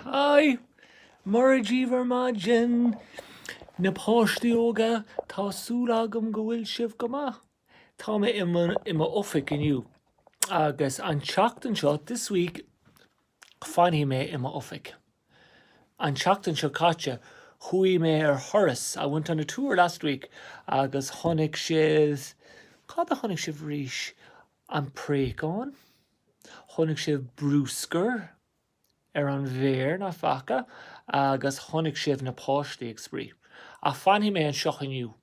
Hi! Mora daoibh ar maidin! Na páistí óga, tá súil agam go bhfuil sibh go maith. Tá mé i mo i mo oifig inniu agus an tseachtain seo, this week, fanfaidh mé i mo oifig. An tseachtain seo caite, chuaigh mé ar thuras, I went on a tour last week, agus chonaic sibh, cad a chonaic sibh arís? An préachán? Chonaic sibh brúscar ar an bhféar, nach bhfaca? Agus chonaic sibh na páistí ag spraoi. Ach fanfaidh mé anseo inniu.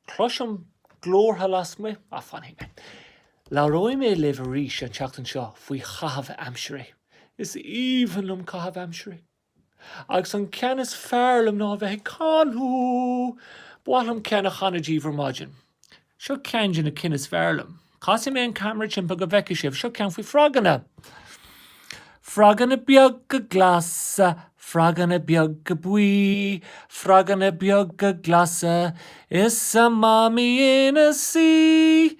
Cloisim glórtha lasmuigh, ach fanfaidh mé. Labhróidh mé libh arís an tseachtain seo faoi chaitheamh aimsire. Is aoibhinn liom caitheamh aimsire! Agus an ceann is fearr liom ná a bheith ag canadh! Ba mhaith liom ceann a chanadh daoibh ar maidin. Seo ceann de na cinn is fearr liom. Casfaidh mé an ceamara timpeall go bhfeicfidh sibh. Seo ceann faoi froganna. Froganna beaga glasa, froganna beaga buí, froganna beaga glasa, is a mamaí ina suí.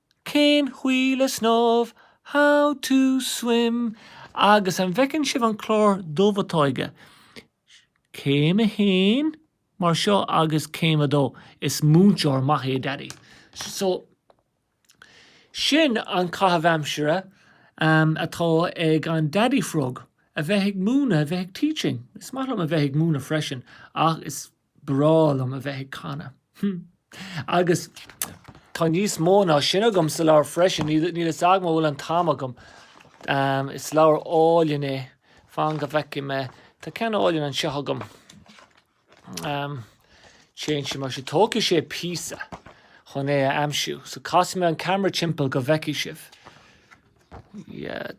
Cén chaoi le snámh, How to swim, agus an bhfeiceann sibh an clár dubh atá aige? Céim a haon, mar seo agus céim a dó. Is múinteoir maith é Daidí. So, sin an caitheamh aimsire atá ag an Daidí Frog, a bheith ag múineadh, a bheith ag teaching. Is maith liom a bheith ag múineadh freisin ach is breá liom a bheith ag canadh. Agus tá níos mó ná sin agam sa leabhar freisin. Níl a fhios agam an bhfuil an t-am agam. Is leabhar álainn é. Fan go bhfeicfidh mé. Tá ceann álainn anseo agam. Téann sé mar seo. Tógfaidh sé píosa chun é a aimsiú, so casfaidh mé an ceamara timpeall go bhfeicfidh sibh.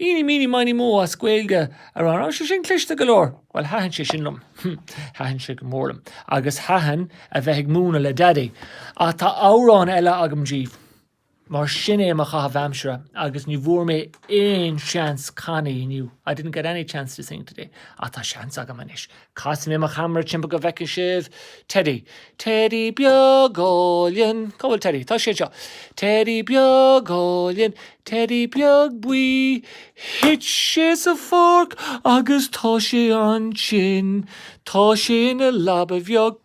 Eeny, meeny, miny, mo as Gaeilge a rá. An raibh sé sin cliste go leor? Bhuel, thaitin sé sin liom. Thaitin sé go mór liom. Agus thaitin a bheith ag múineadh le Daidí. Ach tá amhrán eile agam daoibh. Mar sin é mo chaitheamh aimsire agus ní bhfuair mé aon seans canadh inniu. I didn't get any chance to sing today. Ach tá seans agam anois. Casfaidh mé mo cheamara timpeall go bhfeicfidh sibh Teidí. Teidí beag álainn. Cá bhfuil Teidí? Tá sé anseo. Teidí beag álainn. Teidí beag buí. Thit sé sa pháirc agus tá sé an-tinn. Tá sé ina leaba bheag.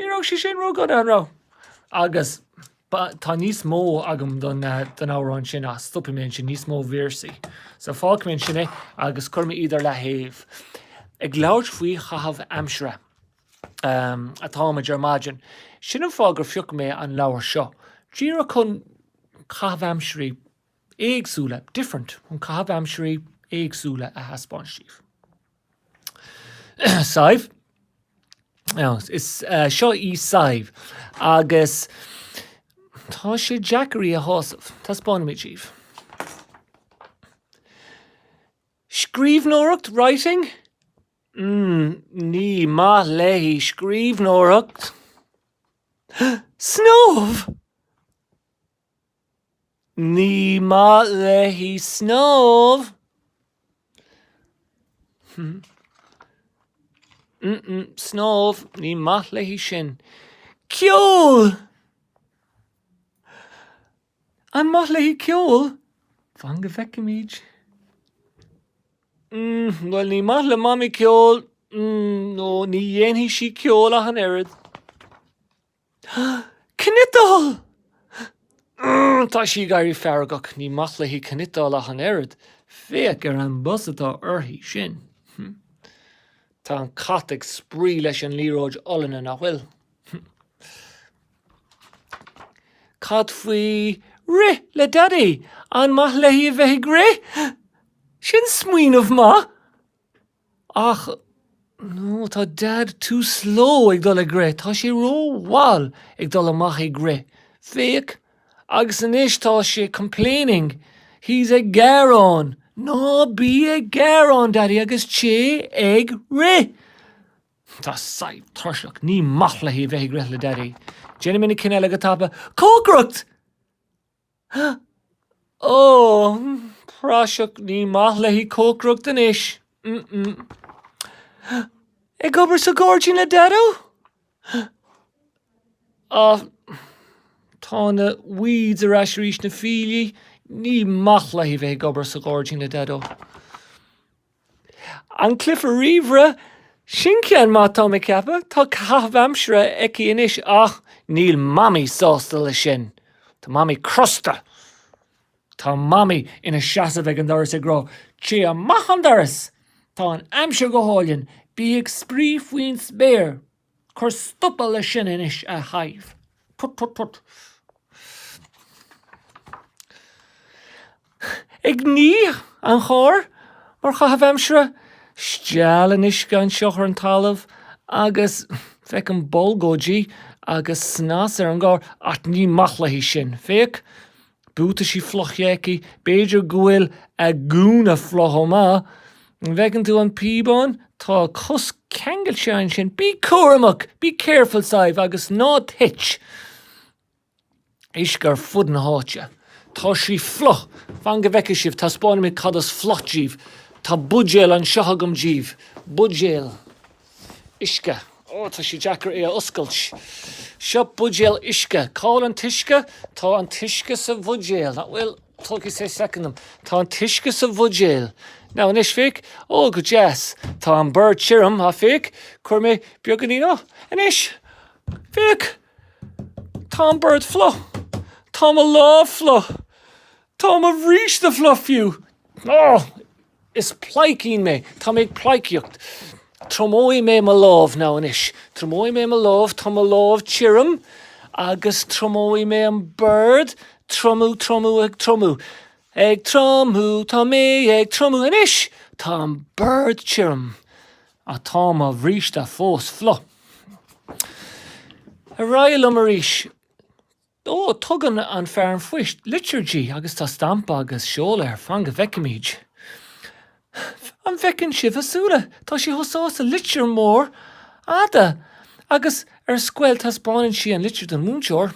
Ní raibh sé sin ródhona, an raibh? Agus tá níos mó agam don amhrán sin ach stopfaidh mé ansin, níos mó véarsaí. So fágfaidh mé ansin é agus cuirfidh mé iad ar leathaobh. Ag labhairt faoi chaitheamh aimsire atáimid ar maidin. Sin an fáth gur phioc mé an leabhar seo. Díreach chun caitheamh aimsirí éagsúla, different, chun caitheamh aimsirí éagsúla a thaispeáint daoibh. Sadhbh, Is é seo í Sadhbh agus tá sé deacair í a shásamh. Taispeánfaidh mé daoibh. Scríbhneoireacht, writing? Ní maith léi scríbhneoireacht. Snámh! Ní maith léi snámh. Snámh, ní maith léi sin. Ceol! An maith léi ceol? Fan go bhfeicfimid. Bhuel, ní maith le Mamaí ceol, no, ní dhéanfaidh sí ceol ach an oiread. Cniotáil! Tá sí ag éirí feargach. Ní maith léi cniotáil ach an oiread. Féach ar an bpus atá uirthi. Sin. Tá an cat ag spraoi leis an liathróid olainne, nach bhfuil? Cad faoi rith le Daidí? An maith léi a bheith ag rith? Sin smaoineamh maith! Ach, no, tá Dad too slow ag dul ag rith, tá sé ró-mhall ag dul amach ag rith, féach, agus anois tá sé complaining, he's ag gearán, ná bí ag gearán, Daddy, agus téigh ag rith! Tá Sadhbh tuirseach, ní maith léi bheith ag rith le Daddy. Déanfaimid na cinn eile go tapa, cócaireacht! Praiseach, ní maith léi cócaireacht anois. Ag obair sa ghairdín le Daideo? Ach tá na weeds ar ais arís, na fiailí. Ní maith léi bheith ag obair sa ghairdín le Daideo. An cluiche ríomhaire, Sin ceann maith tá mé ag ceapadh. Tá caitheamh aimsire aici anois ach níl Mamaí sásta leis sin. Tá Mamaí crosta. Tá Mamaí ina seasamh ag an doras ag rá, Téigh amach an doras! Tá an aimsir go hálainn. Bí ag spraoi faoin spéir! Cuir stop le sin anois, a Shadhbh. Put put put. Ag ní an chairr mar chaitheamh aimsire, steall an uisce anseo ar an talamh agus féic na bolgóidí agus snas ar an gcarr. Ach ní maith léi sin, féach. Buataisí fliucha aici, b'fhéidir go bhfuil a gúna fliuch chomh maith. An bhfeiceann tú an píobán? Tá a cos ceangailte ansin. Bí cúramach! Be careful, Sadhbh! Agus ná tit! uisce ar fud na háite. Tá sí fliuch! Fan go bhfeicfidh sibh, taispeánfaidh mé cad is fliuch daoibh. Tá buidéal anseo agam daoibh. Buidéal. Uisce. Ó, tá sé deacair é a oscailt. Seo buidéal uisce. Cá bhfuil an t-uisce? Tá an t-uisce sa bhuidéal. Nach bhfuil? Tógfaidh sé soicind dom. Tá an t-uisce sa bhuidéal. Now, anois, féic. Ó, go deas. Tá an bord tirim, ach féic, chuir mé beagáinín. Ó, anois! Féic! Tá an bord fliuch. Tá mo lámh fliuch. Tá mo bhríste fliuch fiú. Ó! Is pleidhcín mé. Tá mé ag pleidhcíocht. Triomóidh mé mo lámh now anois. Triomóidh mé mo lámh. Tá mo lámh tirim agus triomóidh mé an bord. Triomú, triomú, ag triomú. Ag triomú, tá mé ag triomú anois! Tá an bord tirim ach tá mo bhríste fós fliuch. Ar aghaidh liom arís. Ó, tugann fear an phoist litir di agus tá stampa agus seoladh air, fan go bhfeicfimid. An bhfeiceann sibh a súile? Tá sí chomh sásta, litir mhór fhada! Agus ar scoil taispeáineann sí an litir don mhúinteoir.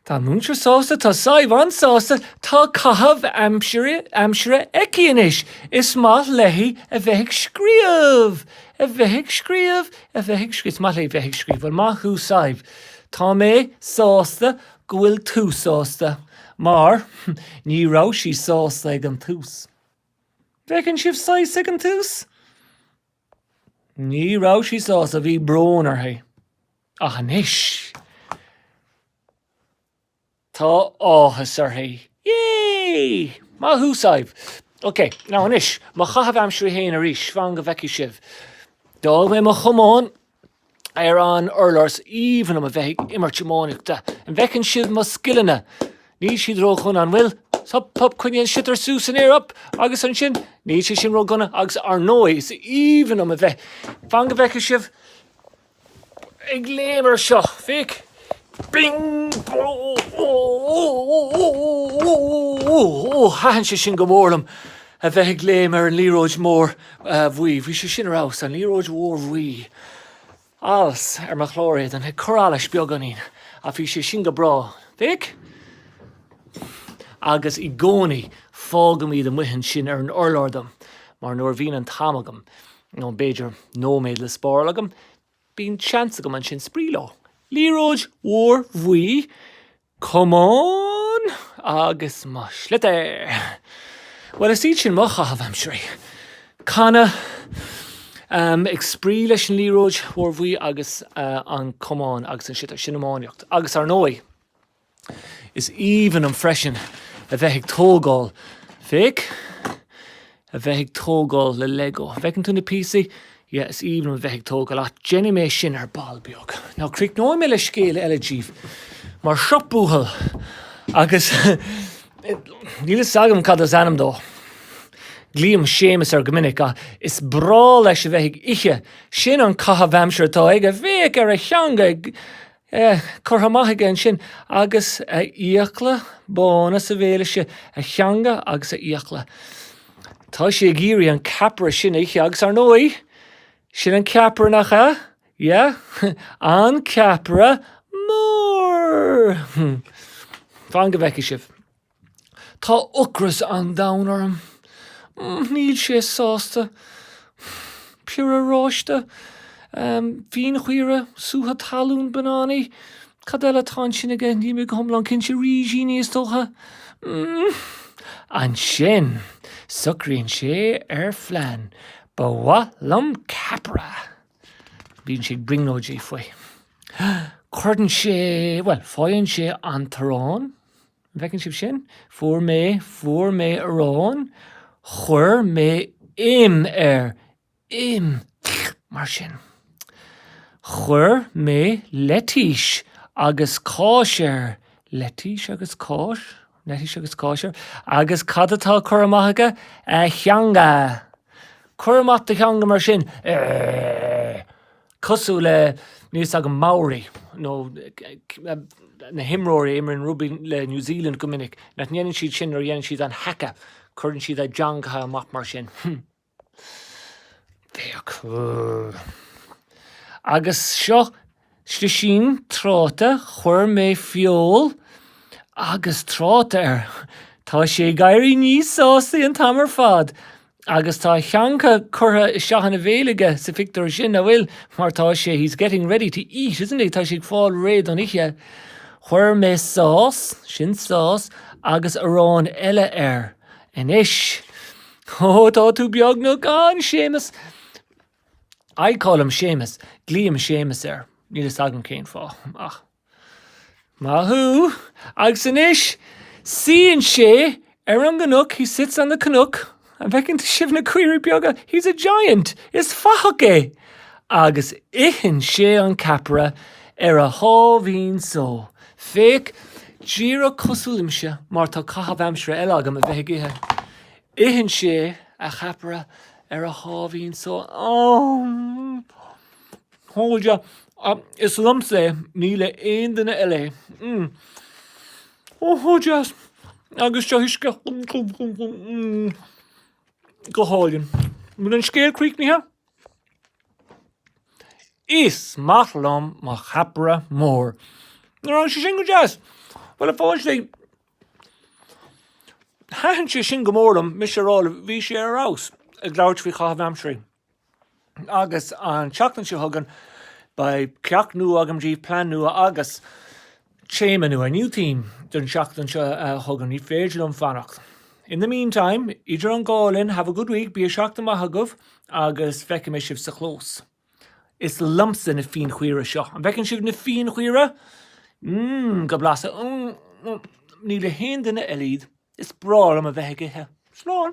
Tá an múinteoir sásta, tá Sadhbh an-sásta, tá caitheamh aimsire aici anois. Is maith léi a bheith ag scríobh! A bheith ag scríobh! A bheith ag scríobh! Is maith léi bheith ag scríobh. Bhuel, maith thú Sadhbh! Tá mé sásta go bhfuil tú sásta, mar ní raibh sí sásta ag an tús. An bhfeiceann sibh Sadhbh ag an tús? Ní raibh sí sásta, bhí brón uirthi. Ach anois! Tá áthas uirthi. Yay! Maith thú, Sadhbh! Ok, now anois, mo chaitheamh aimsire féin arís, fan go bhfeicfidh sibh. D'fhág mé mo chamán ar an urlár. Is aoibhinn liom a bheith ag imirt iománaíochta. An bhfeiceann sibh mo scileanna? Níl siad ródhona, an bhfuil? Hup, hup, coinnigh an sliotar suas san aer, hup! Agus ansin, níl sé sin ródhona agus, ar ndóigh, is aoibhinn liom a bheith, fan go bhfeicfidh sibh, ag léim ar seo féach thaitin sé sin go mór liom a bheith ag léim ar an liathróid mór bhuí bhí sé sin ar fheabhas an liathróid mhór bhuí allas ar mo chlár éadain ag cur allais beagáinín a bhí sé sin go breá féach agus i gcónaí fágaim iad amuigh ansin ar an urlár dom mar nuair a bhíonn an t-am agam nó b'fhéidir nóiméad le spáráil agam, bíonn seans agam ansin spraoi leo. Liathróid mhór bhuí, camán! agus mo shliotair! Bhuel, is iad sin mo chaitheamh aimsirí. Canadh ag spraoi leis an liathróid mhór bhuí agus an camán agus an sliotar, sin iománaíocht agus, ar ndóigh, Is aoibhinn liom freisin a bheith ag tógáil, féach, a bheith ag tógáil le Lego. An bhfeiceann tú na píosaí? Yeah, is aoibhinn liom a bheith ag tógáil ach déanfaidh mé sin ar ball beag. Now, críochnóidh mé le scéal eile díbh mar seo buachaill agus níl a fhios agam cad is ainm dó. Glaoim Séamus air go minic ach is breá leis a bheith ag ithe. Sin an caitheamh aimsire atá aige, féach, ar a theanga. É curtha amach aige ansin agus a fhiacla bána sa bhéal aige, a theanga agus a fhiacla. Tá sé ag iarraidh an ceapaire sin a ithe agus, ar ndóigh, sin an ceapaire, nach ea? Yeah? An ceapaire mór! Fan go bhfeicfidh sibh. Tá ocras an domhain orm. Níl sé sásta. Piorra, oráiste? Fíonchaora? Sútha talún? Bananaí? Cad eile atá ansin aige? Níl mé go hiomlán cinnte. Rísíní, is dócha. Ansin, socraíonn sé ar phlean. Ba mhaith liom ceapaire. Bíonn sé ag brionglóidí faoi. Cuireann sé, bhuel, faigheann sé an t-arán. An bhfeiceann sibh sin? Fuair mé, fuair mé arán, chuir mé im air, im, mar sin. Chuir mé leitís agus cáis air, leitís agus cáis, leitís agus cáis air. Agus cad atá curtha amach aige? A theanga. Cuir amach do theanga mar sin. cosúil le, níl fhios agam, Maori nó na himreoirí a imríonn rugbaí le New Zealand go minic, nach ndéanann siad sin nuair a dhéanann siad an haka, cuireann siad a dteangacha amach mar sin. Féach. Agus seo slisín tráta, chuir mé feoil agus tráta air. Tá sé ag éirí níos sásaí an t-am ar fad. Agus tá a theanga curtha isteach ina bhéal aige sa phictiúr sin, nach bhfuil? Mar tá sé, he's getting ready to eat, isn't he? Tá sé ag fáil réidh don ithe. Chuir mé sauce, sin sauce, agus arán eile air. Anois. Ó, tá tú beagnach ann, Séamus! I call him Séamus. Glaoim Séamus air. Níl a fhios agam cén fáth, ach. Maith thú! Agus anois, suíonn sé ar an gcnoc, he sits on the cnoc, an bhfeiceann sibh na caoirigh beaga? He's a giant, is fathach é! Agus itheann sé an ceapaire ar a sháimhín só. Féach, díreach cosúil liomsa, mar tá caitheamh aimsire eile agam a bheith ag ithe. Itheann sé a cheapaire ar a sháimhín só. Aww! A chairde, is liomsa é, ní le aon duine eile é. Mm. Ó, a chairde, agus seo uisce go hálainn. An bhfuil an scéal críochnaithe? Is maith liom mo cheapaire mór. Nach raibh sé sin go deas? Bhuel, a pháistí, thaitin sé sin go mór liom, mise á rá libh, bhí sé ar fheabhas ag labhairt faoi chaitheamh aimsire. Agus an tseachtain seo chugainn beidh ceacht nua agam díbh, plean nua agus téama nua. A new theme don tseachtain seo chugainn. Ní féidir liom fanacht. In the meantime, idir an dhá linn, have a good week, bíodh seachtain mhaith agaibh agus feicfidh mé sibh sa chlós. Is liomsa na fíonchaora seo. An bhfeiceann sibh na fíonchaora? Mmm, go blasta. Ní le haon duine eile iad. Is breá liom a bheith ag ithe. Slán!